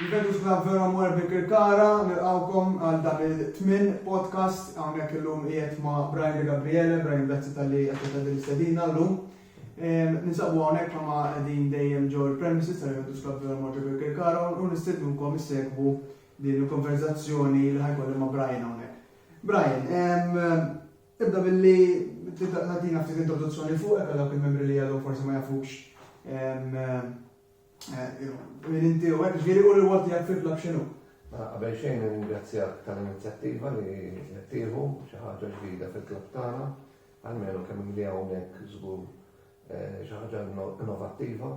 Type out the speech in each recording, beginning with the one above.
Il-Ventus Club vera mor bi Kirkara, nilqawkom għal dan il-tmin podcast hawnhekk illum qiegħed ma' Brian De Gabriele, Brian grazzi tal-li qed tagħti l-istedina llum. Ninsabu hawnhekk ma' qegħdin dejjem ġew il-premises tal-Ventus Club vera mor bi Kirkara u nistednukom issegwu din il-konverzazzjoni li ħajkolli ma' Brian hawnhekk. Brian, Tibda billi tagħtina ftit introduzzjoni fuqek għal dawk il-membri li għadhom forsi ma jafux minn inti u hekk ġieli u l-wol tiegħek fil-klabb x'inhu. Mela, qabel xejn ringrazzjak tal-inizjattiva li qed tieħu xi ħaġa ġdida fil-klabb tagħna, għalmenu kemm li hawnhekk żgur eh, xi ħaġa innovattiva.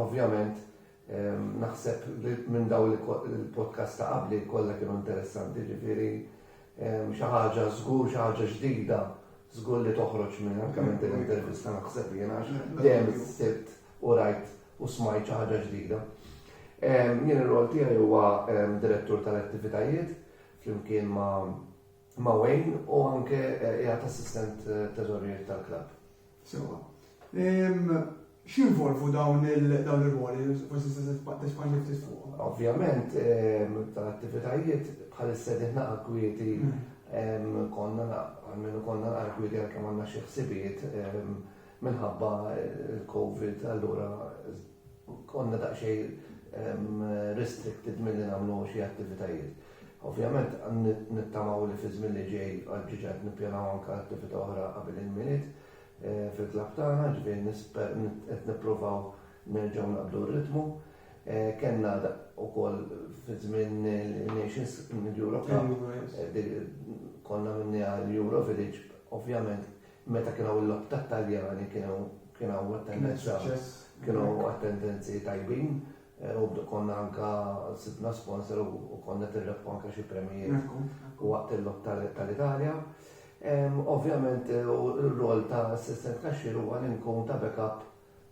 Ovvjament, Naħseb li minn dawn il-podcast ta' qabli kollha kienu interessanti, ġifieri xi ħaġa żgur, xi ħaġa ġdida, żgur li toħroġ minn anke minn din l-intervista naħseb jien għax dejjem sibt u rajt u smajt xi ħaġa ġdida. Jien ir-rol tiegħi huwa direttur tal-attivitajiet flimkien ma' ma' Wayne u anke qiegħed assistent teżorier tal-klabb. Sewwa. X'jinvolvu dawn ir-rwoli? Forsi tista' tespandi ftit fuqhom. Ovvjament, tal-attivitajiet bħal is-sejħiet naqra kwieti konna almenu konna naqra kwieti għalkemm għandna xi ħsibijiet minħabba l-COVID allura konna daqsxejn restricted milli nagħmlu xi attivitajiet. Ovvjament nittamaw li fiż-żmien li ġej, ġiġa qed nippjanaw anke attività oħra qabel il-Milied fil-klabb tagħna, jiġifieri nisper qed nippruvaw nerġgħu naqbdu r-ritmu. Kellna wkoll fiż-żmien il-Nations, l-Euro Cup, konna minniha l-Euro Village, ovvjament meta kien hawn il-logħob tat-Taljani kien hawn attendenza, kienu attendenzi tajbin, Robdu konna anka sibna sponsor u konna qed nirrebħu anka xi premjijiet waqt il-log tal-Italja. Ovvjament ir-rol ta' assistent kaxxier huwa li nkun ta' backup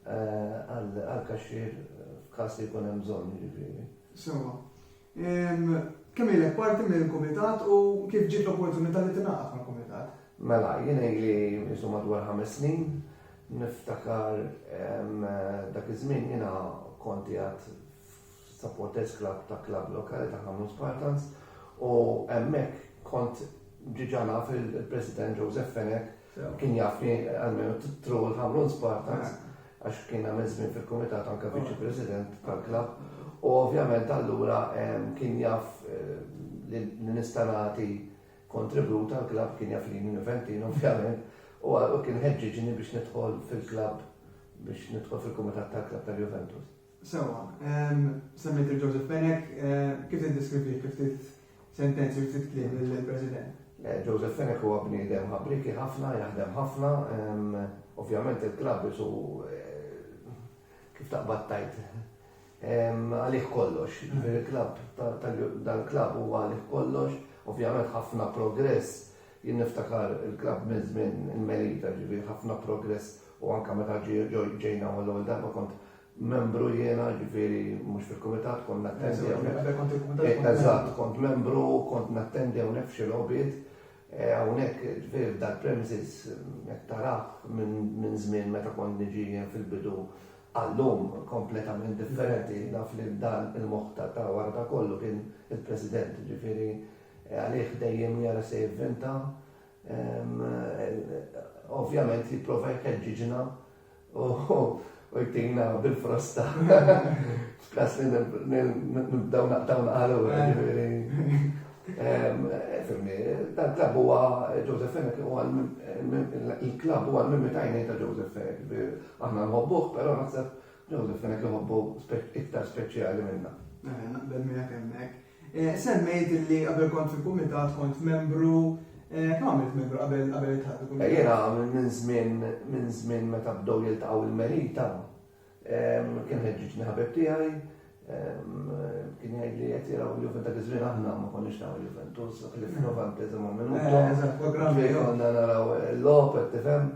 għall-kaxxier f'każ li jkun hemm bżonn jiġifieri. Sewwa. Kemm ilek parti mill-Kumitat u kif ġiet l-opportunità li tingħaqad mal-Kumitat? Mela, jien ili jisu madwar ħames snin, niftakar dak iż-żmien jiena kont qiegħed f'supporters club ta' klabb lokali ta' Ħamrun Spartans u hemmhekk kont diġà naf il-President Joseph Fenech Kien jafni għalmenu titru l-Ħamrun Spartans għax kien għamil żmien fil-kumitat anke viċi president tal-klabb u ovvjament allura kien jaf eh, li nistanati kontribut għal-klabb kien jaf li minn Ventin ovvjament u kien ħeġġiġni biex nidħol fil-klabb biex nidħol fil-kumitat tal-klabb tal-Juventus. Sewa, semmejt il-Joseph Benek, eh, kif id-deskrivi kif Sentenzi ftit kliem lill-President. Eh, Joseph Fenech huwa bniedem ħabriki ħafna, jaħdem ħafna, ovvjament il-klabb isu eh, kif taqbad tajt għalih kollox. Mm. Il-klabb dan il-klabb huwa għalih kollox, ovvjament ħafna progress jien niftakar il-klabb minn żmien il-Melita ġifieri ħafna progress u anke meta ġejna għal ewwel darba kont Membru jiena, ġifieri mhux fil-kumitat, kont nattendi hawnhekk. Eżatt, kont membru, kont nattendi hawnhekk f'xi logħbiet. Eh, hawnhekk ġifieri f'dal premises qed tarah minn żmien meta kont niġi fil-bidu għallum kompletament differenti naf li dan il-moħta ta' warda kollu kien il-President ġifieri eh, għalih dejjem jara se jivvinta. Eh, ovvjament jipprova jħeġġiġna u jtina bil-frosta. F'kas li nibdaw naqtaw naqalu, Fimni, dan klab huwa Joseph Fennek huwa il-klab huwa l-mimmi tajni ta' Joseph Fennek. Aħna nħobbuh, però naħseb Joseph Fennek jħobbu iktar speċjali minna. Naqbel minnek hemmhekk. Semmejt li qabel kont fil-Kumitat kont membru, kemm għamilt membru qabel qabel iltħaqt bil-Kumitat? Jiena minn żmien minn żmien meta bdew jiltaqgħu l-Merita kien ħeġġiġni ħabib tiegħi kien jgħidli qed jaraw il-Juventus dak iż-żmien aħna ma konniex naraw il-Juventus ħlif f'novantesimo minuto. Eżatt, programm. Konna naraw il-logħob qed tifhem.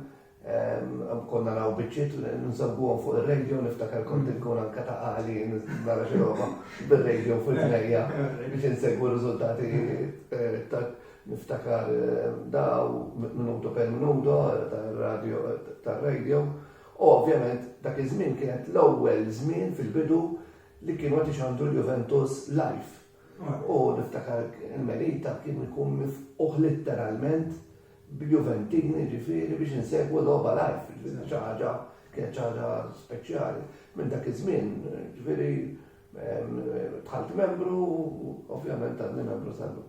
Konna naw bieċiet nżabbuhom fuq ir-radio, niftakar kont mm. inkun anka ta' għali nara xi roba bir-radio fuq il-ġnejja biex insegwu r-riżultati eh, ta' niftakar eh, daw minuto per minuto eh, tar-radio tar-radio. U ovvjament dak iż-żmien kienet l-ewwel żmien fil-bidu li kienu qed ixandru l-Juventus live. U niftakar il-Melita kien ikun mifquħ letteralment b'Juventini jiġifieri biex insegwu logħba live, jiġifieri xi ħaġa kienet xi ħaġa speċjali. Minn dak iż-żmien, jiġifieri dħalt membru u ovvjament għadni membru sal-lum.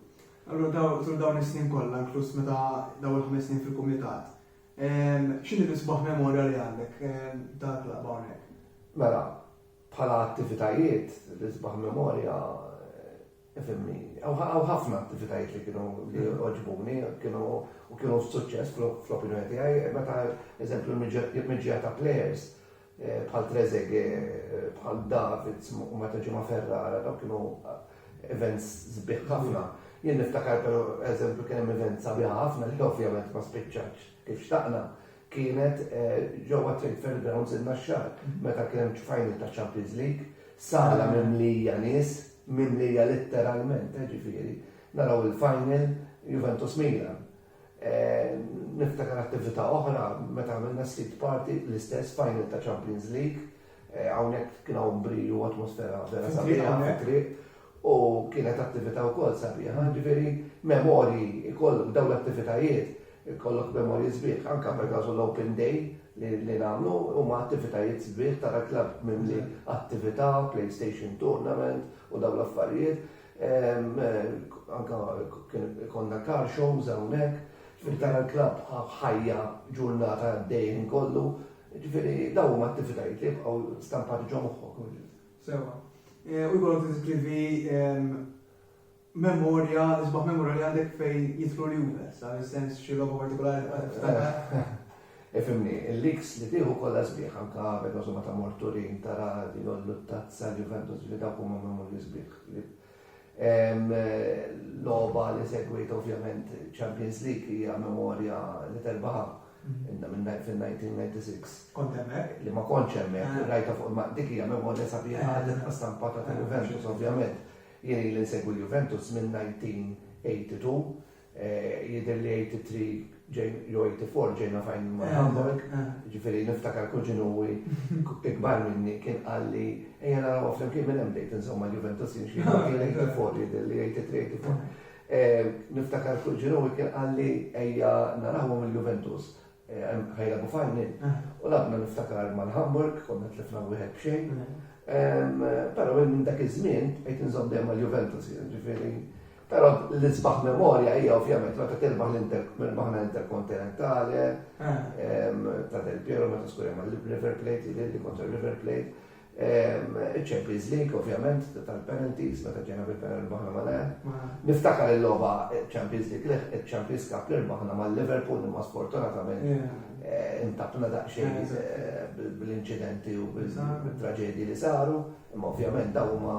Allura tul dawn is-snin kollha, inkluż meta daw il-ħames snin fil-kumitat, x'inhi l-isbaħ memorja li għandek tal-klabb hawnhekk? Mela, bħala attivitajiet, l-isbaħ memorja Ifhimni, hawn ħafna attivitajiet li kienu li għoġbuni, kienu u kienu suċċess fl-opinjoni tiegħi, meta eżempju miġja ta' players eh, bħal Trezege, eh, bħal Davids u meta ġimgħa Ferrara, daw kienu eh, events sbieħ ħafna. Jien niftakar per eżempju kien hemm event sabiħa ħafna li ovvjament ma spiċċax kif xtaqna, kienet ġewwa Trade Fair Grounds in-Naxxar meta kien hemm final ta' Champions League, sala mimlija nies, mimlija litteralment ġifieri, naraw il-final Juventus Milan. Niftakar attività oħra meta għamilna Street Party l-istess final ta' Champions League, Hawnhekk kien hawn bri u atmosfera vera sabiħa fit-triq u kienet attività wkoll sabiħa. Ġifieri memorji jkollok dawn l-attivitajiet, ikollok memorji sbieħ. Anke pereżażu l-open day li nagħmlu huma attivitajiet sbieħ tara klabb mimli attività, playstation tournament u dawn l-affarijiet. Anke kien ikollna car shows hawnhekk. Ġifieri tara l-klabb ħajja ġurnata għaddej il-ħin kollu. Ġifieri dawn huma attivitajiet li jibqgħu stampati ġo moħħok. Sewa. Eh, u jkollok tiskrivi ehm, memorja, isbaħ memorja li għandek fejn jitlu li huma, sa' sens xi logħba partikolari eh, Ifimni, eh, il-liks li tieħu kollha sbieħ anka vedożu ma ta' morturin tara li jollu tazza Juventus li dawk huma memorji sbieħ Logħba li segwiet ovvjament Champions League hija memorja li terbaħha fil-1996. Kont hemmhekk? Li ma kontx hemmhekk, ah. rajta fuq ma dik hija memorja sabiħa ah. li tqas stampata ta' ah, Juventus ovvjament. Jien li nsegwi Juventus minn 1982 Jidher li 83 jew 84 ġejna fajn ma' Hamburg, ġifieri niftakar kuġin huwi ikbar minni kien qal li ejja naraw flimkien minn hemm bdejt insew ma' Juventus jien xi 84 jidher li 83 84. Niftakar kuġin huwi kien qal li ejja narawhom il-Juventus Ħajja Abu Fanni, u labna niftakar mal-Hamburg, konna tlifna wieħed b'xejn. Però minn dak iż-żmien qed inżomm dejjem mal-Juventus, ġifieri. Però l-isbaħ memorja hija ovvjament meta tirbaħ l-Interbaħna Interkontinentale ta' Del Piero meta skurja mal-River Plate, li kontra River Plate. Iċ-Champions League ovvjament tal-penalties meta ġejna bil-penalty rbaħna mal-Ajax. Niftakar il-logħba Champions League li iċ-Champions Cup li rbaħna mal-Liverpool imma sfortunatament intabna daqsxejn bl-inċidenti u bit-traġedji li saru imma ovvjament dawn huma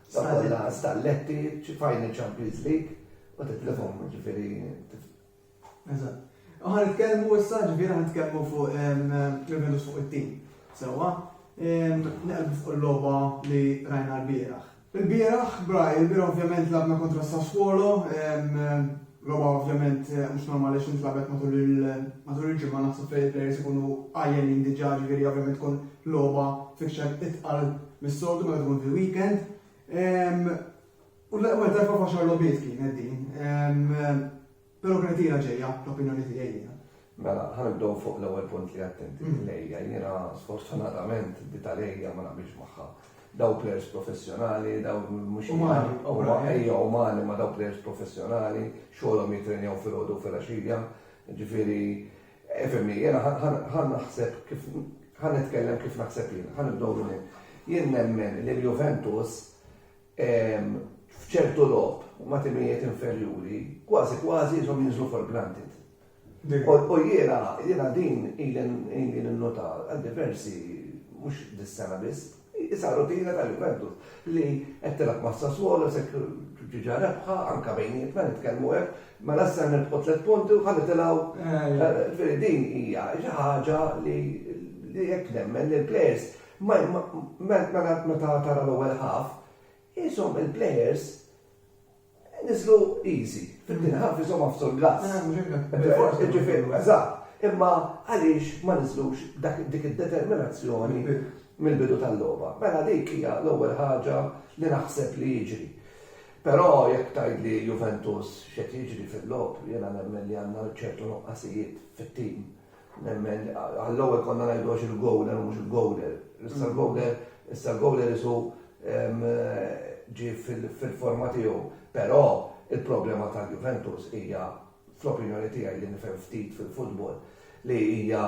Saħħa li laqas tal-letti, final Champions League, u titlifhom ġifieri. Eżatt. U ħan nitkellmu issa ġifieri ħan nitkellmu fuq il-Venus fuq it-tim. Sewwa, neqbu fuq il-logħba li rajna l-bieraħ. Il-bieraħ, Braj, il-bieraħ ovvjament labna kontra Sassuolo, Roma ovvjament mhux normali għax intlagħbet matul il-ġimgħa naħseb li l-players ikunu għajjenin diġà ġifieri ovvjament tkun logħba fixer itqal mis-soltu meta tkun fil-weekend. Ehm, u l-ewwel darba faxar logħbiet kienet din. Ehm, però kienet ġejja l-opinjoni tiegħi Mela, ħa nibdew fuq l-ewwel punt li għedt inti, l-għeja. Jiena sfortunatament di tal-għeja ma naqbilx magħha. Daw plejers professjonali, daw mhux umani, huma għeja umani ma daw plejers professjonali, xogħolhom jittrenjaw filgħodu u filgħaxija. Ġifieri, ifhimni, jiena ħa naħseb kif ħa nitkellem kif naħseb jien, ħa nibdew minn hekk. Jien nemmen li l-Juventus f'ċertu logħob ma' timijiet inferjuri, kważi kważi jisom jinżlu for granted. U jiena, jiena din ili ninnota għal diversi, mhux dis-sena biss, isa rutina tal-Juventus li qed tilgħab ma' Sassuolo se ġiġa rebħa anke bejnietna nitkellmu hekk, mela issa nirbħu tliet punti u ħa nitilgħu. Din hija xi ħaġa li hekk nemmen li l-plejers meta tara l-ewwel ħaf, qishom il-plejers Niżlu easy, fil-din ħafna iżomha f'sur glass. Ġifieri, eżatt. Imma għaliex ma niżlux dik id-determinazzjoni mill-bidu tal-logħba? Mela dik hija l-ewwel ħaġa li naħseb li jiġri. Però jekk tgħidli Juventus x'qed jiġri fil-logħob, jiena nemmen li għandna ċertu nuqqasijiet fit-tim. Nemmen, għall-ewwel konna ngħidu għax il-goaler u mhux il-goaler. Issa l-goaler, issa l-goaler isu ġie fil-forma tiegħu. Però il-problema tal-Juventus hija fl-opinjoni tiegħi li nifhem ftit fil-futbol li hija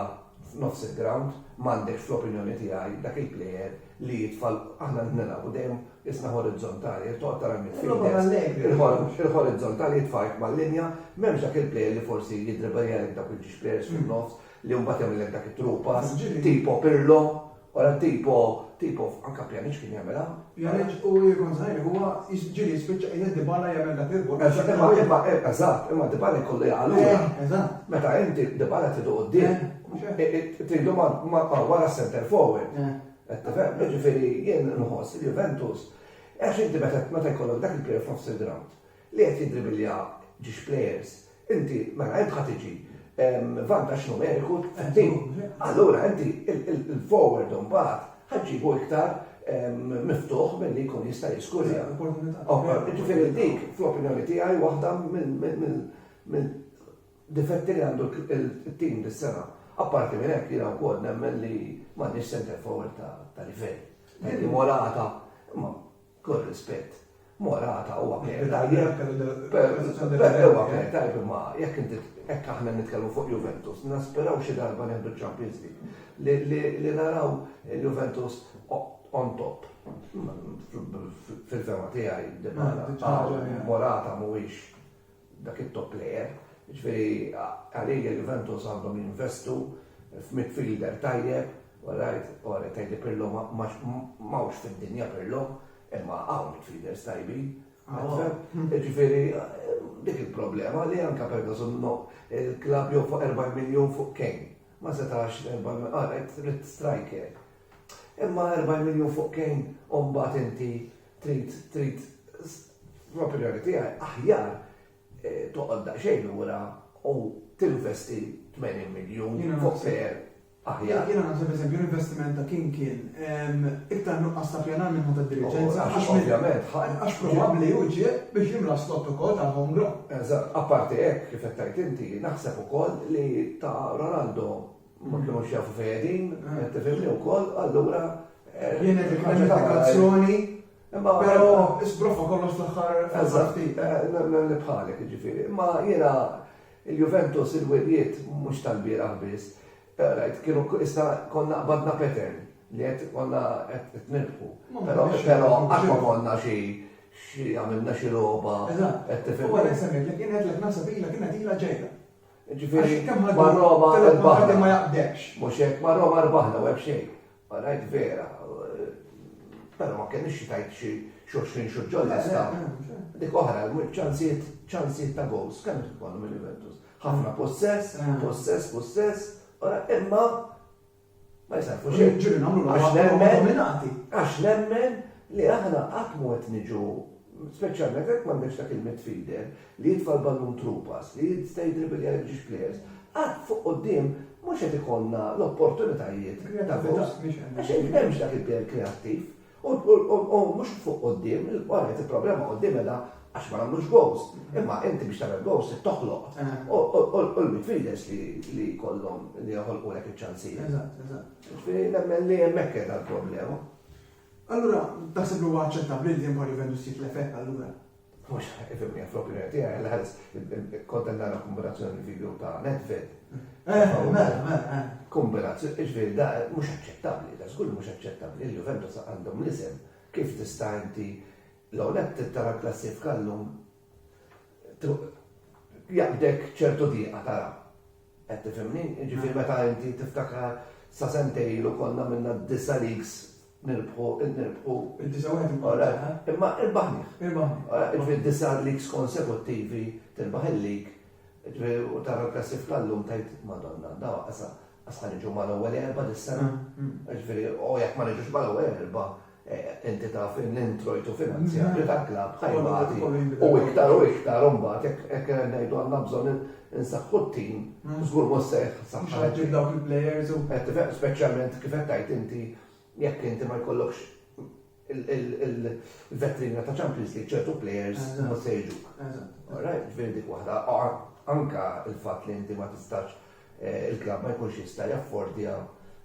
f'nofs il-ground m'għandekx fl-opinjoni tiegħi dak il-plejer li jitfa' aħna nilagħbu dejjem Isna horizzontali, il toqgħod tara min Logħba mal-lejl. il-horizzontali jitfarrk mal-linja, m'hemmx dak il-plejer li forsi jiddribbeljalek dawk il-ġiex plejers fin-nofs li mbagħad jagħmillek dak it-true pass, Ġili. tipo Pirlo, wara tipo, tipo anke Pjaniċ kien jagħmilha. Pjaniċ u jien kont żgħir, huwa jiġ- ġieli jispiċċa qiegħed Dybala jagħmel dak il-goal. Eżatt, imma imma eh, eżatt, imma Dybala jkollu jaqa' lura. Eh, Eżatt. Meta inti Dybala tridu quddiem, Eh, mhux hekk. eh, eh, tridu ma ma- ma wara s-center forward. Eh. Qed tifhem? Jiġifieri jien nħoss li Juventus, għax inti meta meta jkollok dak il-player f'nofs il-grawnd li qed jiddribilja ġiex players, inti mela int ħa tiġi vantaġġ numeriku f'din. Allura inti il-forward imbagħad ħa ġġibu iktar miftuħ milli jkun jista' jiskurja. Jiġifieri dik fl-opinjoni tiegħi waħda mill Difetti li għandu t-tim dis-sena. Apparti minn hekk jiena wkoll nemmen li m'għandniex centre forward ta' livell. Perki Morata, imma kull rispett, Morata huwa plejer tajjeb. Huwa plejer tajjeb imma jekk inti hekk aħna nitkellmu fuq Juventus, naspiraw xi darba nieħdu ċ-Champions League. Li naraw il-Juventus on top. Fil-fehma tiegħi Dybala, Morata mhuwiex dak it-top player. Jiġifieri għalija Juventus għandhom jinvestu f'midfielder tajjeb, all right, ora tgħidli Pirlo m'hawnx fid-dinja Pirlo, imma hawn midfielders tajbin. Jiġifieri dik il-problema li anke Ferguson no il-klabb jew fuq 40 miljun fuq Kane. Ma setax 40 all right, trid striker. Imma 40 miljun fuq Kane u mbagħad inti Trid, trid, fl-opinjoni tiegħi, aħjar eh, toqgħod daqsxejn lura u tinvesti 80 miljun fuq ser aħjar. Jiena naħseb eżempju l-investiment ta' kien kien ehm, iktar nuqqas ta' pjanar minn ħadd id-diriġenza. Oh, għax ovvjament, għax probabbli u ġie biex jimla slott ukoll ta' home ground. Eżatt, apparti hekk kif qed tgħid inti, naħseb ukoll li ta' Ronaldo ma kinux jafu fejn qegħdin, qed tifhimni wkoll, allura eh, Jien dik ħaġa ta' l-applikazzjoni, Imma però isbrofa kollox fl-aħħar Eżatti, li bħalek ġifieri. Imma jiena il-Juventus il-wedjiet mhux tal-bieraħ biss, eh, rajt kienu issa konna qbadna pattern li qed konna qed nirbħu. Però però qatt ma konna xi xi għamilna xi logħba qed tifhem. Huwa li semmi li kienet lek naħseb ilha kienet ilha ġejja. Jiġifieri ma' Roma rbaħna. Ma jaqbdekx. Mhux hekk, ma' Roma rbaħna u hemm xejn. Ma ngħid vera. Però ma kellix xi tgħid xi xulxin xi ġolla sta. Dik oħra, ċansijiet ċansijiet ta' goals kemm tkollhom il-Juventus. Ħafna possess, possess, possess, imma Ma jsarrfu xejn. Ġieli nagħmlu l-għażla li huma dominati. Għax nemmen li aħna qatt mhu qed niġu, speċjalment jekk m'għandekx dak il-midfielder li jitfa' l-ballun through pass, li jista' jidribbilja lil ġiex players, qatt fuq quddiem mhux qed ikollna l-opportunitajiet ta' gowls. Għax m'hemmx dak il-player kreattiv. U mhux fuq quddiem, wara qed il-problema quddiem qiegħda għax ma nagħmlux gowls. Imma inti biex tagħmel gowls trid toħloq. U l-midfielders li jkollhom li joħolqulek iċ-ċansijiet. Eżatt, eżatt. Jiġifieri nemmen li hemmhekk qiegħda l-problema. Allura taħseb li huwa aċċettabbli li Empoli Vendus jitlef hekk allura? Mhux ifhimni fl-opinjoni tiegħi għal ħares kont qed nara kombinazzjoni l-video ta' Nedved. Eh, mela, mela. Eh. Kombinazzjoni, iġviri da mhux aċċettabbli, da żgur mhux aċċettabbli li Juventus għandhom l-isem. Kif tista' inti l-għonet tara klassifika llum jaqbdek ċertu diqa tara. Qed tifhimni, ġifieri meta inti tiftakar sa sentejlu konna minna disa leaks Nirbħu, id nirbħu. Id-29 Ora, imma irbaħnih. Irbaħnih. Ora, ġifieri d-disa' leagues konsekuttivi tirbaħ il-league, ġifieri u tara l-klassifika llum tgħid Madonna, daw qasa' qas ħa niġu mal-ewwel erba' dis-sena. Ġifieri u jekk ma niġux mal-ewwel erba' inti taf l-introjtu finanzjarju tal-klabb ħa jbati u iktar u iktar u mbagħad hekk ngħidu għandna bżonn Insaħħu t-tim, żgur mhux se jħassar ħadd. Mhux ħadd jgħid dawk il-plejers u. Qed tifhem, speċjalment kif qed tgħid inti jekk inti ma jkollokx il-vetrina ta' Champions League ċertu plejers mhux se jiġuk. Eżatt. Alright, ġifieri dik waħda. Anke il-fatt li inti ma tistax eh, il-klabb ma jkunx jista' jaffordja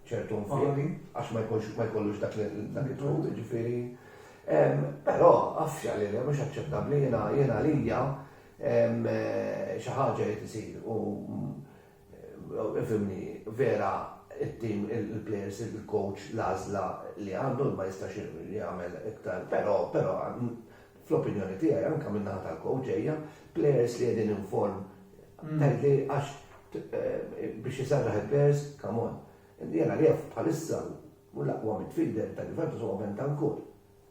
ċertu nfiq għax ma jkunx ma jkollux dak il-tħut, ġifieri. Però għafx għalli mhux aċċettabbli jiena jiena lija Xi ħaġa irid isir u ifhimni, vera t-tim, il-plejers, il-kowċ l-għażla li għandu ma jistax jagħmel iktar, però però fl-opinjoni tiegħi anke min-naħa tal-kowċ ġejja plejers li qegħdin in form tgħidli għax biex iserraħ il-plejers come on. Jien għalija bħalissa l-aqwa midfielder tal-Juventus huwa Bentancur.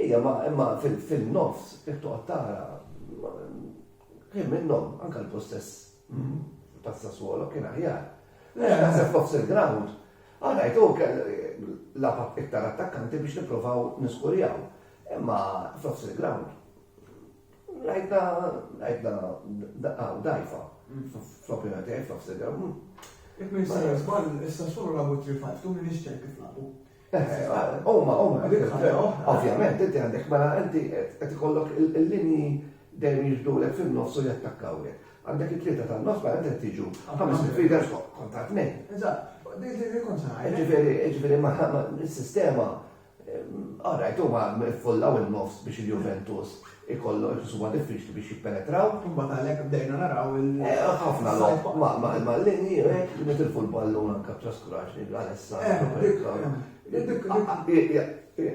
Ija ma imma fin nofs jekk toqgħod tara kien minnhom anke l-possess ta' Sassuolo kien aħjar. Għax naħseb nofs il-ground għadajt hu kell labat iktar attakkanti biex nippruvaw niskurjaw. Imma f'nofs il-ground rajtna rajtna dajfa fl-opinjoni tiegħi f'nofs il-ground. Jekk ma jistax żball, Sassuolo labu 3-5-2 m'iniex ċert kif labu. Huma, huma, ovvjament, inti għandek mela inti qed ikollok il-linji dejjem jiġbdulek fin-nofs u jattakkawlek. Għandek it-tlieta tan-nofs mela inti tiġu ħames midfielders kontra tnejn. Eżatt, dik li jkun saħħa. Ġifieri, ġifieri ma is-sistema Alright, huma ffullaw in-nofs biex il-Juventus ikollhom iqisu huma diffiċli biex jippenetraw. Imbagħad għalhekk bdejna naraw il- Ħafna logħob mal-linji hekk li nitilfu l-ballun anke b'traskuraġni bl-għalessa.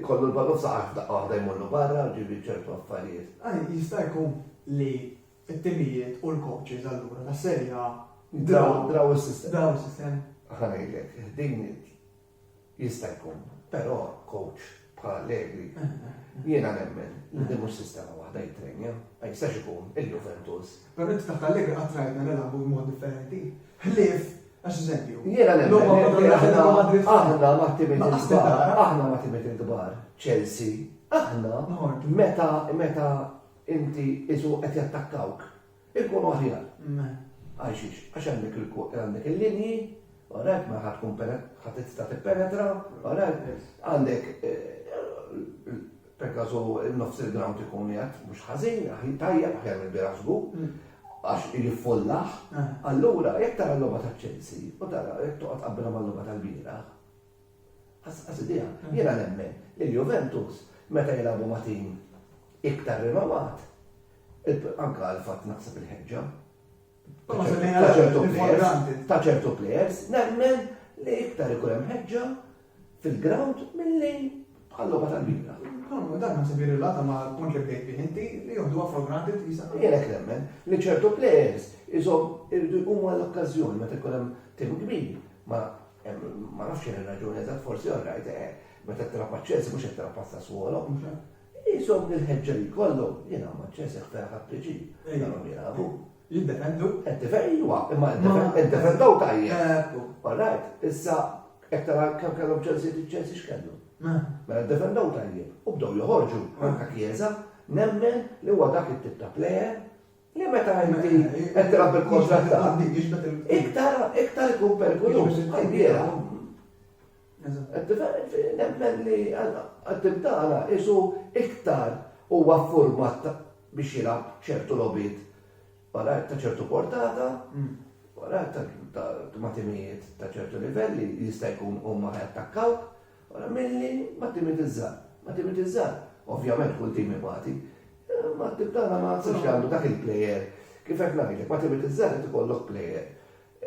Kollu l-ballun saqaf daqqa waħda jmorru barra u ġieli ċertu affarijiet. Jista' jkun li t-timijiet u l-coaches allura tas-Serie A draw is-sistema. Ħa ngħidlek, din Jista' jkun, però coach bħal Allegri jiena nemmen li din mhux sistema waħda jittrenja. Ma jistax ikun il-Juventus. Però inti taħt Allegri qatt rajtna nilagħbu b'mod differenti. Ħlief Għax eżempju. Jiena nemmen. Aħna ma timit il-kbar. Aħna ma timit il-kbar. Chelsea. Aħna. Meta meta inti isu qed jattakkawk. Ikunu aħjar. Hm, għal xiex? Għax għandek il-kod, għandek il-linji, orajt, ma ħadd tkun ħadd tista' tippenetra, orajt, għandek perkażu nofs il-ground ikun jgħat mhux ħażin, tajjeb aħjar mill-bira żgur, hmm. għax jiffollaħ, eh. allura jekk tara l-logħba ta' Chelsea u tara jekk toqgħod qabbilha mal-logħba tal-bira, Qasqas idea. Jiena nemmen li l-Juventus meta jilagħbu ma' tim iktar rinomat, anke għall-fatt naħseb il-ħeġġa ta' ċertu plejers, nemmen li iktar ikun hemm ħeġġa fil-ground milli bħal-logħba tal-bira. Kolmu, dan ma sebi rilata ma l-punt li bdejt bih inti li joħdu għafru granti t-tisa. Jelek nemmen li ċertu plejers iżom irdu jqumu għall-okkazjoni meta jkun hemm tim kbir ma Ma nafx xejn ir-raġuni eżatt forsi all right, eh, meta tilgħab ma' Chelsea mhux qed tilgħab pasta swolo. Jisom il-ħeġġa li jkollhom, jiena ma' Chelsea ħfejha ħadd piġi, kellhom jilagħbu. Jiddependu. Qed tifejwa, imma qed defendaw tajjeb. All right, issa qed tara kemm kellhom Chelsea li Chelsea x'kellu. Mela defendaw tajjeb u bdew joħorġu anke Chiesa, nemmen li huwa dak it-tip ta' plejer Li meta inti qed tilgħab bil-kontra tiegħek, iktar iktar ikun perikoluż. Għajbiera. Nemmen li għattim tagħna isu iktar huwa format biex jilgħab ċertu lobit wara ta' ċertu portata, wara ta' matimijiet ta' ċertu livelli jista' jkun huma jattakkawk Wara milli ma timitiżżat. Ma timitiżżat, ovvjament kull tim ibati. Ma t-tip tagħna ma nsibx li għandu dak il-plejer. Kif qed ngħidlek, ma timitiżżat irid ikollok plejer.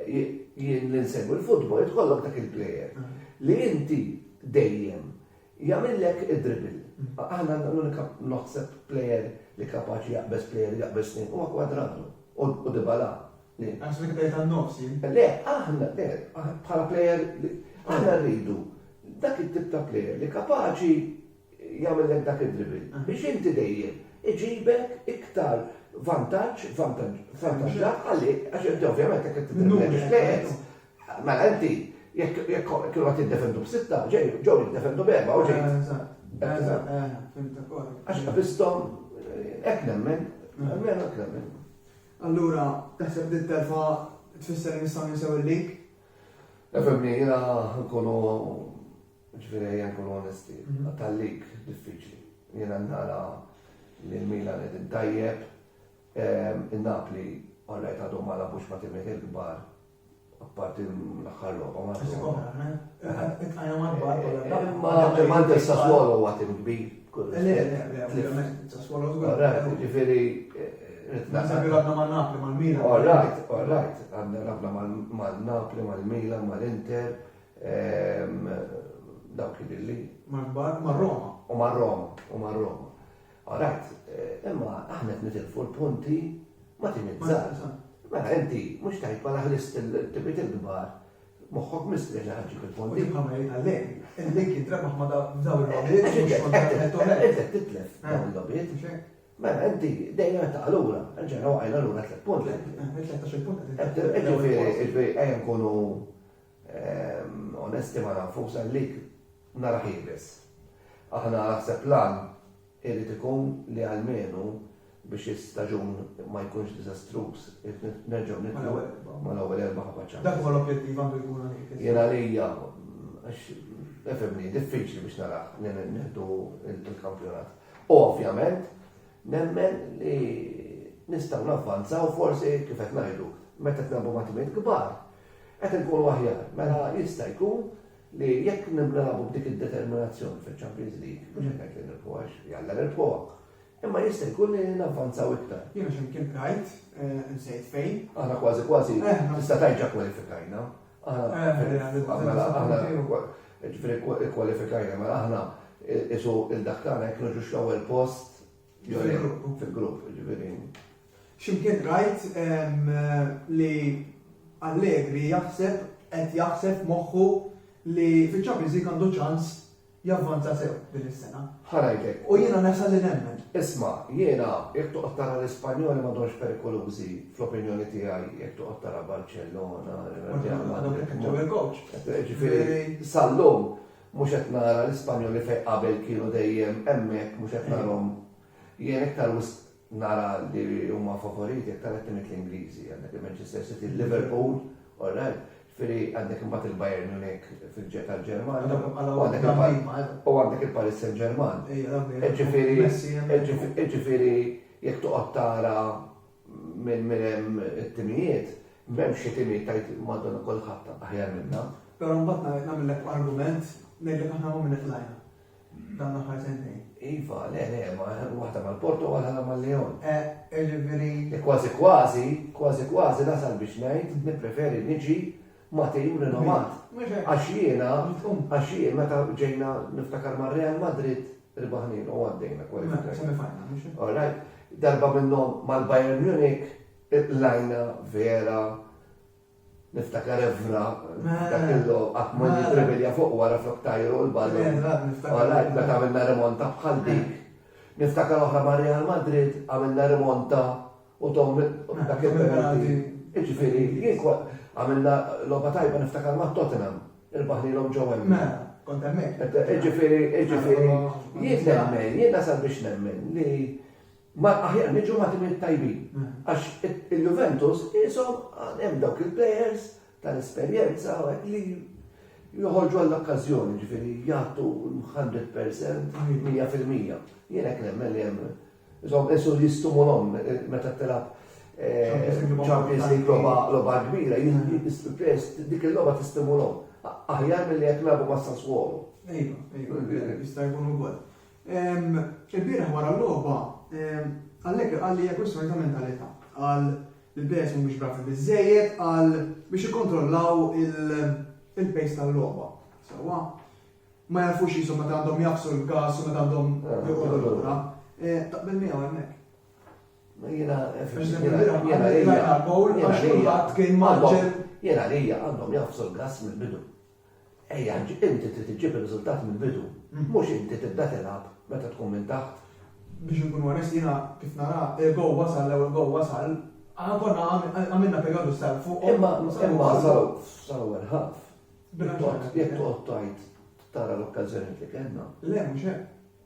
Jien li nsegwi l-futbol irid ikollok dak il-plejer. Li inti dejjem jagħmillek id-dribble. Aħna l-unika naħseb plejer li kapaċi jaqbeż plejer u jaqbeż tnejn huwa Cuadrado u Dybala. Inqas minn tlieta n-nofs jien. Le, aħna, le, bħala plejer, aħna rridu dak it-tip ta' plejer li kapaċi jagħmillek dak id-dribble biex inti dejjem iġibek iktar vantaġġ, vantaġġat għalik, għax inti ovvjament jekk qed tiddribbla tliet plejers, mela inti jekk kienu qed jiddefendu b'sitta, ġew jiddefendu b'erba' u ġejt. Eżatt. Eżatt. Fimtek. Għax qabiżthom hekk nemmen, almenu hekk nemmen. Allura, taħseb li t-telfa tfisser li nistgħu ninsew il-lig? Efemni, jiena nkunu ġifieri ejja nkunu onesti, mhm. tal-lig diffiċli. Jiena nara li l-Milan qed intajjeb, ehm, in-Napli orrejt għadhom ma labux ma' timiet il-kbar Apparti l-aħħar logħba ma Imma anke Sassuolo huwa tim kbir. Sassuolo żgur. Ġifieri Naħseb għadna ma' Napli ma' Milan. All right, all right. Għadna għadna ma' Napli ma' Milan ma' l-Inter. Dawk li li. Ma' Roma. U ma' Roma. U ma' Roma. Alright, imma aħna qed nitilfu l-punti ma' tim iż-żgħar. Mela inti mhux tgħid mela ħlist il-timiet il-kbar moħħok mistrieħ li ħaġġik il-fondi. Imma ma jgħid għalhekk, il-link jitrebaħ ma' dawn il-lobiet. Inti titlef dawn il-lobiet. Mela inti dejjem qed taqalura, ġejna waqajna lura tliet punti. Ġifieri ejja nkunu Onesti ma' nafux għalik naraħ iebes. Aħna naħseb l-għan irid ikun li almenu biex is-staġun ma jkunx diżastruż irid nerġgħu nibdew mal-ewwel erba' ħabba ċans. Dak huwa l-objettiv għandu jkun għalik. Jien għalija għax efhimni diffiċli biex naraħ nieħdu l-kampjonat. Ovvjament Nemmen li nistgħu navvanzaw forsi, kif qed ngħidu, meta qed nilagħbu ma' timijiet kbar, qed inkunu aħjar. Mela jista' jkun li jekk nilagħbu b'dik id-determinazzjoni fiċ-Champions League, mhux qed ngħid li nirbħuha għax jalla nirbħuha, imma jista' jkun li navvanzaw iktar. Jiena x'imkien qrajt, insejt fejn. Aħna kważi kważi tista' tgħid ġa kwalifikajna. Mela aħna, ġifieri kkwalifikajna, mela aħna qisu il-dak tagħna jekk niġux l-ewwel post fil-grupp, ġifieri. X'imkien rajt li Allegri jaħseb qed jaħseb moħħu li fiċ-Champions League għandu ċans javvanza sew din is-sena. Ħa ngħidlek. U jiena nesa li nemmen. Isma', jiena, jekk toqgħod tara l-Ispanjoli m'għadhomx perikolużi, fl-opinjoni tiegħi, jekk toqgħod tara Barcellona, Real Madrid. Ġew il-kowċ. Ġifieri, sal-lum, mhux qed nara l-Ispanjoli fejn qabel kienu dejjem hemmhekk, mhux qed narahom. Jien iktar wisq Nara li huma favoriti aktar għat timiet l-Ingliżi, għandek il-Manchester City, il-Liverpool, all right? Ġifieri għandek imbagħad il-Bayern Munich fil-ġe tal-Ġermanja, u għandek il-Paris Saint-Germain. Ġifieri jekk toqgħod tara minn minn hemm it-timijiet, m'hemmx xi tim li tgħid Madonna kulħadd aħjar minna. Però mbagħad nagħmillek argument ngħidlek aħna minn min itlajna. Dan l-aħħar sentejn. Iva, le, le, ma waħda mal-Porto u waħda mal-Leon. Eh, ġifieri. Li kważi kważi, kważi kważi nasal biex ngħid, nippreferi niġi ma tejju rinomat. Għax jiena, għax jien meta ġejna niftakar ma' Real Madrid ribaħnin u għaddejna kwalifikazzjoni. All right, darba minnhom mal-Bayern Munich, lajna vera Niftakar Evra, dak il-logħob qatt ma nitrevelja fuq wara flok tajru l-ballun. Orajt, meta għamilna rimonta bħal dik. Niftakar oħra ma' Real Madrid, għamilna rimonta u Tom dak il-penalty. Jiġifieri, jien għamilna logħba tajba niftakar ma' Tottenham, irbaħnilhom ġo Wembley. Kont hemmhekk. Jiġifieri, jiġifieri, jien nemmen, jien nasal biex nemmen li Ma aħjar niġu ma' timiet tajbin. Għax il-Juventus qishom għad hemm dawk il-plejers tal-esperjenza u hekk li joħorġu għall-okkażjoni, jiġifieri jagħtu l-hundred percent, mija fil-mija. Jien hekk nemmen li hemm. Insomma, qisu li stumulhom meta tilgħab Champions League logħba logħba kbira, il-plejers dik il-logħba tistimulhom. Aħjar milli jekk nilagħbu ma' Sassuolo. Iva, iva, jista' jkun ukoll. Il-bieraħ wara l-logħba, Allegri qal li hija kwistjoni ta' mentalità. Qal li l-players mhumiex bravi biżżejjed għal biex ikkontrollaw il-pace tal-logħba. Sewwa ma jafux qishom meta għandhom jaqbsu l-gas u meta għandhom joqogħdu lura. Taqbel miegħu hemmhekk. Jiena jiena lejja. Jiena lejja għandhom jaqbsu l-gas mill-bidu. Ejja, inti trid iġġib ir-riżultati mill-bidu, mhux inti tibda tilgħab meta tkun minn taħt. Biex inkunu onesti jiena kif nara il-gowl wasal, l-ewwel gowl wasal, aħna konna għamilna perjodu sar fuqhom. Imma wasalu fl-ewwel half. Jekk toqgħod tgħid tara l-okkażjonijiet li kellna. Le, mhux hekk.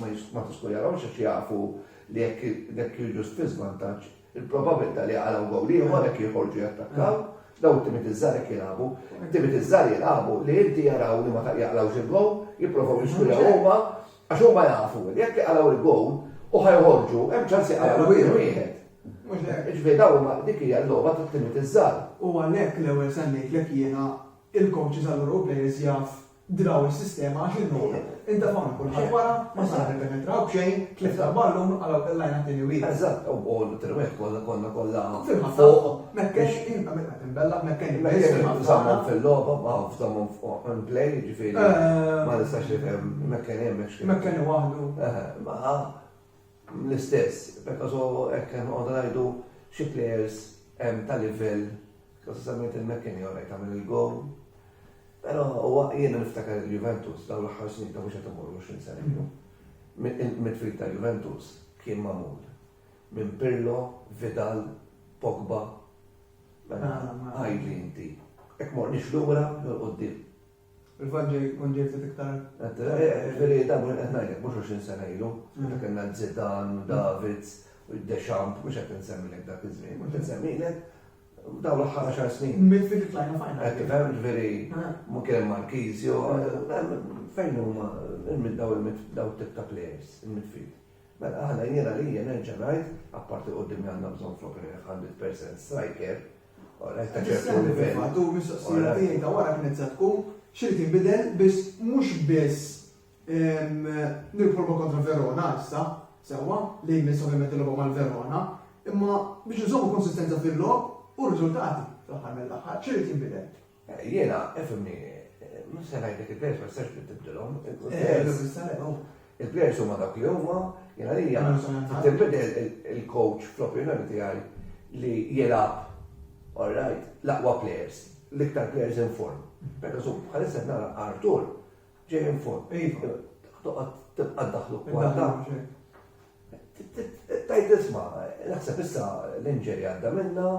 ma tiskujahomx għax jafu li jekk jiġu fi żvantaġġ il-probabbiltà li jaqalgħu gowl ieħor jekk joħorġu jattakkaw, dawn it-timiet iż-żgħar hekk jilagħbu. It-timiet iż-żgħar jilagħbu li inti jaraw li ma jaqlgħux il-gowl, jipprovaw jiskujaw huma għax huma jafu li jekk jaqalgħu l-gowl u ħa joħorġu hemm ċans jaqalgħu gowl wieħed. Ġifieri dawn huma dik hija l-logħba tat-timiet iż-żgħar. U għalhekk l-ewwel semmejtlek jiena il-coaches allura u players jaf Draw is-sistema għax in-nol intefgħu minn kulħadd wara, ma sar nippenetraw b'xejn, tlift tal-ballun għalaw tellajna t-tieni wieħed. Eżatt, u t-tieni wieħed konna konna kollha fuq. Mekkex kien qed inbella' mekkex biss fil-ħabta. Żammhom fil-logħba, ma żammhom on play, jiġifieri ma nistax nifhem mekkex hemmx. Mekkex waħdu. Eħe, ma l-istess, pereżo hekk qed noqogħdu ngħidu xi players hemm ta' livell, konsistentment il-McKennie orajt għamel il-gowl, però huwa jiena niftakar il-Juventus dawn l-aħħar snin ta' mhux qed immur 20 sena ilu, il-midfield tal-Juventus kien magħmul minn Pirlo, Vidal, Pogba, mela għidli inti, jekk morniex lura jew 'l quddiem. Il-Vanġel jkun ġej ftit iktar. Veri, da mhux qed ngħidlek mhux 20 sena ilu, meta kellna Zidan, David, Deschamps, mhux qed insemmilek dak iż-żmien, mhux qed insemmilek dawn l-aħħar għaxar snin. Minn fil flajna fajna. Qed tifhem veri, mhu kien Markizio, fejn huma daw daw tip ta' players il-midfield. Mela aħna jiena li nerġa' ngħid, apparti quddiem li għandna bżonn flok għandi percent striker, Matul mis-soqsija tiegħi ta' wara kienet se tkun x'irid jinbidel biss mhux biss nirħu kontra Verona issa, sewwa, li jmiss ovvjament il-logħba mal-Verona, imma biex nżommu konsistenza fil-logħob u r-riżultati fl-aħħar mill-aħħar, x'irid jinbidel? Jiena, ifhimni, mhux se ngħidlek il-players ma tistax tibdilhom. Il-players huma dawk li huma, jiena għalija tinbidel il-coach fl-opinjoni tiegħi li jilgħab all right, l-aqwa players, l-iktar players in form. Pereżempju, bħalissa qed nara Artur Ġej minn fuq, iva. Toqgħod tibqa' ddaħħlu kwarta. Tajt isma, naħseb issa l-inġeri għadda minna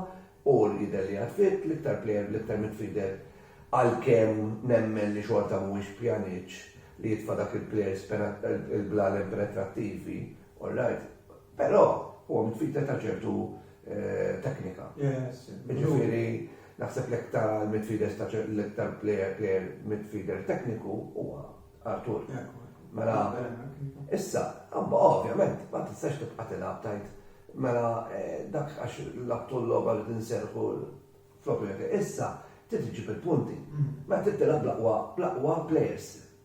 u l-jidher li għadfit l-iktar plejer l-iktar midfielder għalkemm nemmen li xorta mhuwiex pjaniċ li jitfa' dak il-plejers il-blal impenetrattivi, all right, però huwa midfielder ta' ċertu eh, teknika. Ġifieri naħseb l-iktar midfielder ta' l-iktar player player midfielder tekniku huwa Artur. Mela, issa, għabba ovvjament, ma tistax tibqa' tilgħab tajt. Mela, eh, dak għax l-abtu l-loba li tinserħu flok Issa, trid iġib il-punti. Mm. Meta trid tilgħab bl-aqwa, bl-aqwa players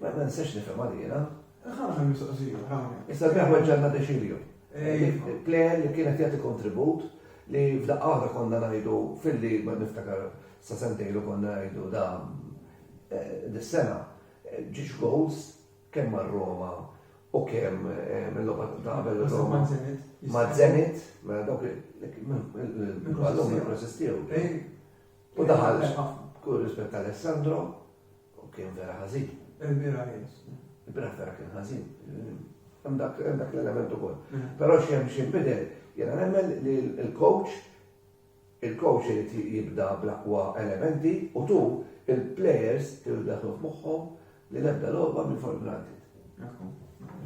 Ma nistax nifhemha li jiena. Ħana ħan mistoqsija, ħana. Issa kien weġġanna deċilju. Plejer li kienet jagħti kontribut li f'daqqa waħda konna ngħidu filli ma niftakar sa sentejlu konna ngħidu da dis-sena ġiex goals kemm mar-Roma u kemm mill-logħba ta' qabel Roma. Ma' Zenit, ma' dawk minn ballum ma' resistew. U daħal kull rispett Alessandro. U kien vera ħażin. Il-bira jens. Il-bira vera kien ħażin. Hemm dak l-element ukoll. Mm. Però xi hemm xi bidel, jiena nemmen li l-coach il-coach irid jibda bl-aqwa elementi u tu il-players kienu daħlu f'moħħhom li l-ebda logħba minn for granted.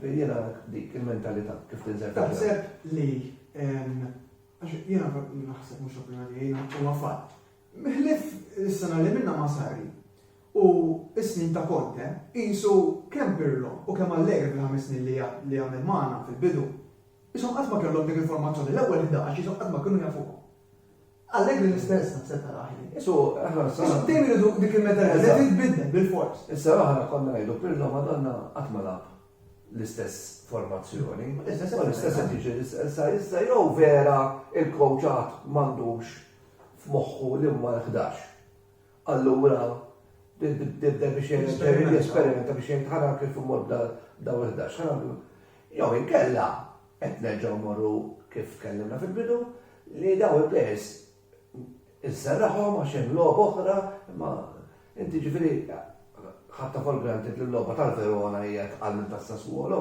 Jiena dik il-mentalità kif tinżel. Taħseb li jiena naħseb mhux opinjoni jiena huwa fatt Ħlief is-sena li minnha ma' Sarri u s-snin ta' Conte, qisu kemm Pirlo u kemm Allegri fil-ħames snin li għamel magħna fil-bidu, qishom qatt ma kellhom dik il-formazzjoni, l-ewwel ħdax qishom qatt ma kienu jafuha. Allegri l-istess naħseb taraha ħin. Qisu aħna s-sena. Qisu dejjem iridu dik il-mentalità li titbiddel bil-fors. Is-sena l-oħra konna ngħidu Pirlo Madonna qatt ma lagħab l-istess formazzjoni. L-istess qed jiġri. Issa jew vera il-kowċ għad m'għandux f'moħħu li huma l-ħdax. Allura nibda biex jien jesperimenta biex jien ħana kif immur b'daw il-ħdax. Ħana nagħmlu. Jew inkella qed nerġgħu mmorru kif kellimna fil-bidu li daw il-plejers inserraħhom għax hemm logħba oħra, imma inti ġifieri ħatta for granted li l-logħba tal-Verona hija tqal minn tas-Sassuolo.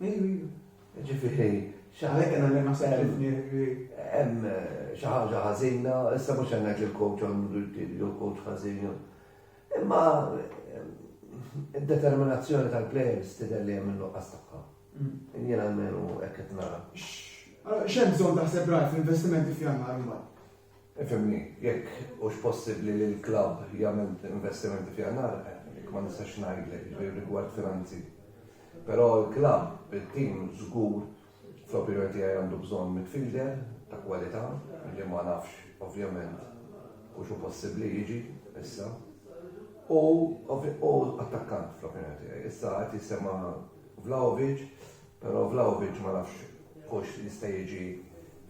Iva, iva. Ġifieri, Għalhekk qed ngħid ma sejħiltni li hemm xi ħaġa ħażina, issa mhux qed ngħid li l-coach għandu jtib jew coach ħażin. Imma id-determinazzjoni tal-players tidher li hemm in-nuqqas tagħha. Jien almenu hekk qed nara. X'hemm bżonn taħseb rajt fl-investimenti f'Jannar imbagħad? Ifhimni, jekk hux possibbli li l-klabb jagħmel investimenti f'Jannar, hekk ma nistax ngħidlek, jiġifieri rigward finanzi. Però l-klabb bit-tim żgur fl-opinjoni tiegħi għandu bżonn midfielder ta' kwalità li ma nafx ovvjament hux hu possibbli jiġi issa. U u attakkant fl-opinjoni tiegħi. Issa qed jissemma' Vlahovic, Però Vlahovic ma nafx hux jista' jiġi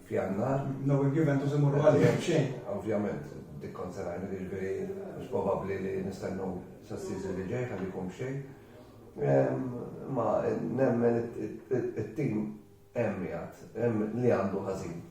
f'Jannar. Naw jekk Juventus imorru għal qiegħ b'xejn. Ovvjament, dik kont se ngħidlek, jiġifieri mhux probabbli li nistennew sas-season li ġej ħalli jkun b'xejn. Imma nemmen it-team hemm qiegħed, hemm li għandu ħażin.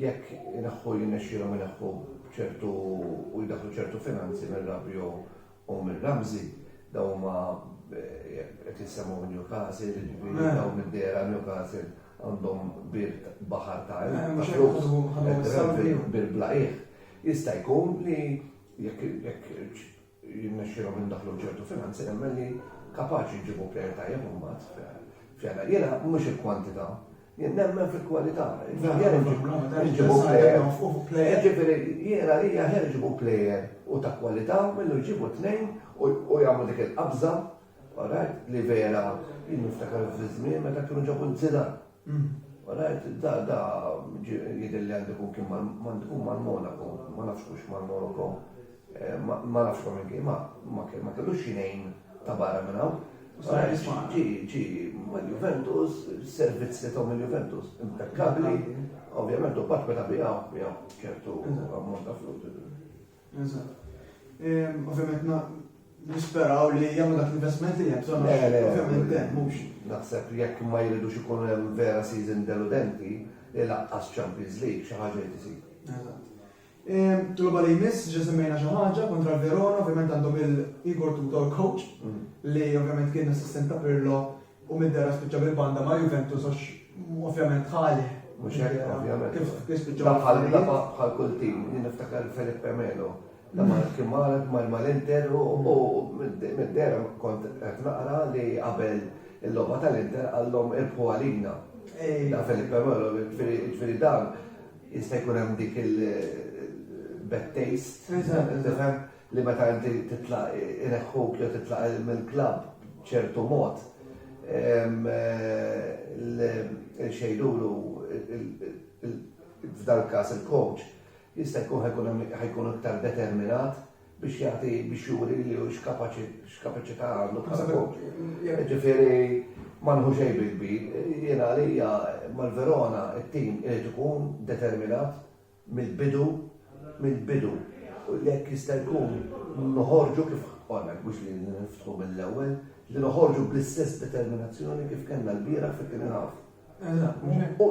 Jekk ineħħu jirnexxielhom ineħħu ċertu u jdaħħlu ċertu finanzi minn Rabiot u minn Ramsey, dawn huma qed jissemgħu Newcastle, jiġifieri eh. dawn id-dera Newcastle għandhom birt baħar ta' eh, bil-blaqih. Jista' jkun li jekk jirnexxielhom indaħħlu ċertu finanzi nemmen li kapaċi jġibu plejer tajjeb imbagħad f'jana. Jiena mhux il-kwantità, jien nemmen fil-kwalità. Jġibu plejer. Ġifieri jiena li aħjar iġibu plejer u ta' kwalità millu jġibu tnejn u jagħmlu dik il-qabża Orajt, li vera, jien niftakar fiż-żmien meta kienu ġabu l-zina. Orajt, mm. da, da, jidher li għandu kun kien m'għandu mal-Monaco, ma nafx kux mal-Monaco, eh, ma nafx ma minn ma ma kellu xinejn ta' barra minn hawn. Ġi, ġi, mal-Juventus, servizz li tom il-Juventus, impeccabli, ovvjament u bat meta bijaw, bijaw ċertu ammont ta' flus. Ovvijament nisperaw li jagħmlu dak l-investment li hemm bżonn. Ovvijament hemm mhux. Naħseb li jekk ma jridux ikun hemm vera season deludenti, li laqqas Champions League xi ħaġa li tisir. Tluba li jmiss, ġa semmejna xi ħaġa kontra l-Verona, ovvijament għandhom il-Igor Tutor coach, mm. li ovvijament kien assistent ta' Pirlo U Middera spiċċa bil-banda ma' Juventus għax ovvjament ħalih. Mhux hekk ovvjament. Kif spiċċa bħal kull tim, jien niftakar Felipe Melo. Lama kien marad mal-Inter u Middera kont qed naqra li qabel il-logħba tal-Inter għallhom irbħu għalina. Da Felipe Melo, ġifieri dan jista' jkun hemm dik il-bad taste. li meta inti titlaq ineħħuk jew titlaq mill-klabb b'ċertu mod, il-xejdulu, f'dal-każ il-coach, jista' jkun ħa jkun iktar determinat biex jagħti, biex juri li hu x'kapaċità għandu bħala coach. Jiġifieri ma nieħu xejn bil-kbir. Jiena għalija mal-Verona t-tim irid ikun determinat. mill-bidu, mill-bidu, u jekk jista' jkun noħorġu kif qolna, mhux li niftħu mill-ewwel, li noħorġu bl-istess determinazzjoni kif kellna lbieraħ fit-tieni half. U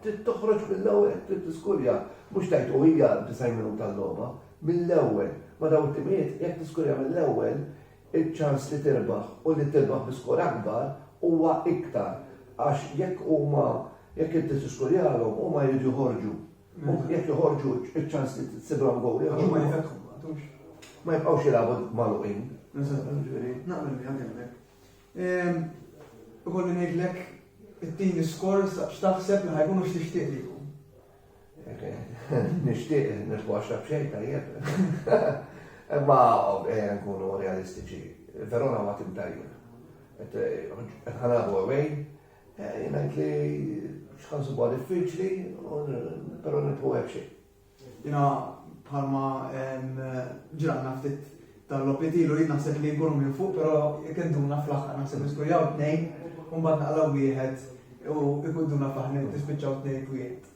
trid toħroġ mill-ewwel, trid tiskurja, mhux tgħid u hija 90 minuta l-logħba, mill-ewwel. Ma' dawn it-timijiet jekk tiskurja mill-ewwel, iċ-ċans li tirbaħ u li tirbaħ bi skor akbar huwa iktar għax jekk huma jekk inti tiskurjalhom huma jridu joħorġu. U jekk joħorġu iċ-ċans li tsibilhom gowl ieħor. Huma jfetħu ma għadux. Ma jibqgħux jilagħbu magħluqin. Naqbel miegħek hemmhekk. Ehm, ikolli ngħidlek it-tieni skor x'taħseb li ħajkunu x'tixtieq li jkun. Nixtieq nitwaxxa b'xejn tajjeb. Imma ejja nkunu realistiċi. Verona huwa tim tajjeb. Qed ħa nilagħbu away, jien ngħid li xi ħa nsibuha diffiċli, però nibqgħu hekk xejn. Jiena bħalma ġralna ftit Dan l-opiet ilu jien naħseb li nkunu minn fuq però jkunduna fl-aħħar naħseb niskurjaw tnejn u mbagħad naqlaw wieħed u jkunduna fl-aħħar tispiċċaw tnejn f'wieħed.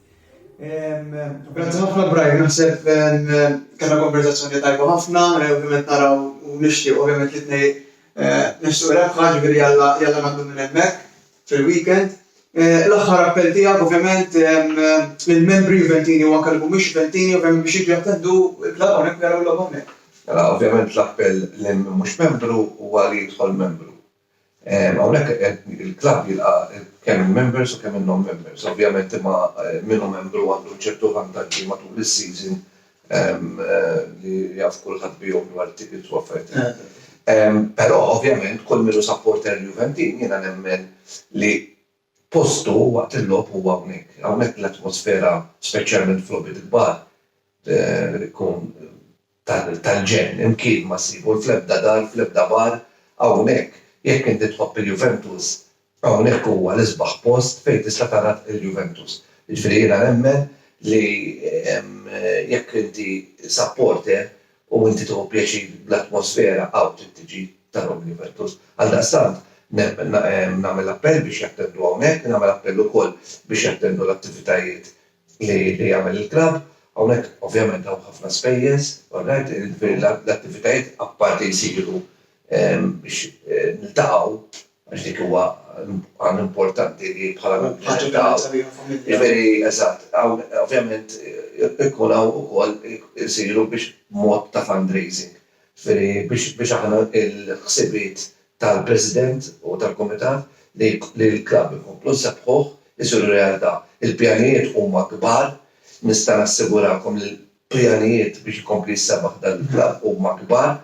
Grazzi ħafna Brian, naħseb kellna konverzazzjoni tajba ħafna, ovvjament naraw u nixtieq ovvjament li tnejn eh, nixtieq rebħa ġifieri jalla jalla nagħmlu minn hemmhekk. fil-weekend. L-aħħar appell tiegħek ovvjament lill-membri Juventini u anke li mhumiex Juventini ovvjament biex jiġu jattendu l-klabb hawnhekk u jaraw il-logħba hawnhekk. Mela ovvjament l-appell lil min mhux membru huwa li jidħol membru. Hawnhekk il-klabb jilqa' kemm il-members u kemm in-non-members. Ovvjament imma min hu membru għandu ċertu vantaġġi matul is-season li jaf kulħadd bihom dwar it-tickets u affarijiet bħal hekk. Però ovvjament kull min hu supporter Juventin jiena nemmen li postu waqt il-logħob huwa hawnhekk. Hawnhekk l-atmosfera speċjalment f'logħbiet kbar tkun tal-ġenn, imkien ma ssib u fl-ebda dar, fl-ebda bar hawnhekk. Jekk inti tħobb il-Juventus Hawnhekk huwa l-isbaħ post fejn tista' tara l-Juventus. Jiġifieri jiena nemmen li jekk inti supporter u inti tieħu pjaċir bl-atmosfera hawn trid tiġi tara l-Juventus. Għaldaqstant nagħmel appell biex jattendu hawnhekk, nagħmel appell ukoll biex jattendu l-attivitajiet li jagħmel il-klabb. Hawnhekk ovvjament hawn ħafna spejjeż, orrajt, jiġifieri l-attivitajiet apparti jsiru biex niltaqgħu Għax dik huwa għan importanti li bħala nirrispettaw. Ġifieri, eżatt, ovvjament ikun hawn ukoll isiru biex mod ta' fundraising. Ġifieri biex aħna l-ħsibiet tal-President u tal-Kumitat li l-klabb inkomplu nsabbħuh isiru realtà. Il-pjanijiet huma kbar, nista' nassigurakom li pjanijiet biex ikompli jsabaħ dan il-klabb huma kbar,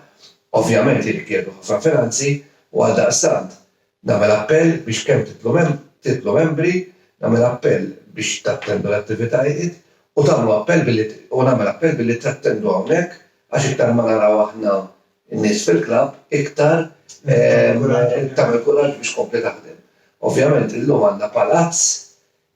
ovvjament jirrikjedu ħafna finanzi u għaldaqstant nagħmel appell biex kemm tidħlu tidħlu membri, nagħmel appell biex tattendu l-attivitajiet u tagħmlu appell billi u nagħmel appell billi tattendu hawnhekk għax iktar ma naraw aħna n-nies fil-klabb iktar tagħmel kuraġġ biex tkompli taħdem. Ovvjament illum għandna palazz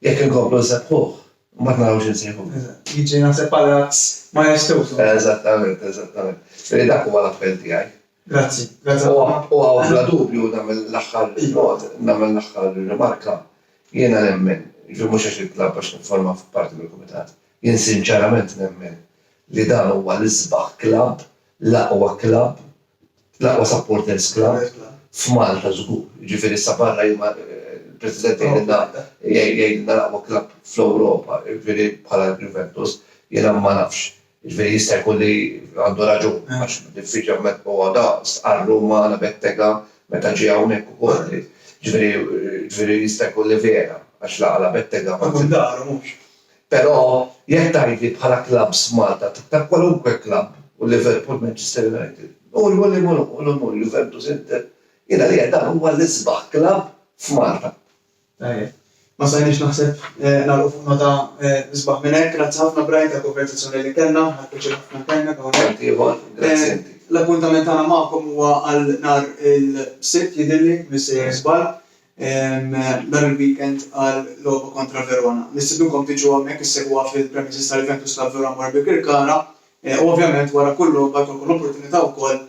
Jekk inkomplu nsebbuh, imbagħad naraw x'insejħulu. Jiġi naħseb palazz majestuż hawnhekk. Eżattament, eżattament. Ġifieri dak huwa l-appell tiegħi. Grazzi, grazzi ħafna. U hawn bla dubju nagħmel l-aħħar nod, nagħmel l-aħħar rimarka. Jiena nemmen, jiġifieri mhux għax intlab għax nifforma parti mill-kumitat, jien sinċerament nemmen li dan huwa l-isbaħ klabb L-aqwa klabb, l-aqwa supporters club f'Malta żgur. Jiġifieri issa barra jien ma, il-President jgħidilna jgħidilna l-aqwa klabb fl-Ewropa, jiġifieri bħala l-Juventus, jiena ma nafx. Jiġifieri jista' jkun li għandu raġun għax diffiċli ovvjament u għadha stqarr hu ma' Anna Bettega meta ġie hawnhekk ukoll li jiġifieri jiġifieri jista' jkun li vera għax la Anna Bettega ma Tkun daru mhux? Però jekk tgħidli bħala klabbs f'Malta ta' kwalunkwe klabb u Liverpool, Manchester United, Nurju li mhu l-ewwel u Nurju Juventus, Inter, jien għalija dan huwa l-isbaħ klabb f'Malta. Tajjeb. Ma stajniex naħseb nagħlqu fuq nota isbaħ minn hekk. Grazzi ħafna Brian tal-konverzazzjoni li kellna. Ħadt piċir ħafna nkellmek hawnhekk. Tant ieħor, grazzi inti. L-appuntament tagħna magħkom huwa għal nhar il-Sibt jidhirli, missejjer żball. nhar il-weekend għal logħba kontra Verona. Nistidnukom tiġu hawnhekk issegwuha fil-premises ta' Juventus ta' Vero Amor Birkirkara u ovvjament wara kull logħba jkollkom l-opportunità wkoll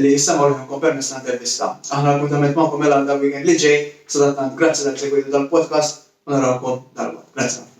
li issemgħu leħinkom permezz ta' intervista. Aħna l-appuntament magħkom jingħalaq dal-weekend li ġej, sadattant grazzi talli segwejtu dal-podcast u narawkom dalwaqt. Grazzi ħafna.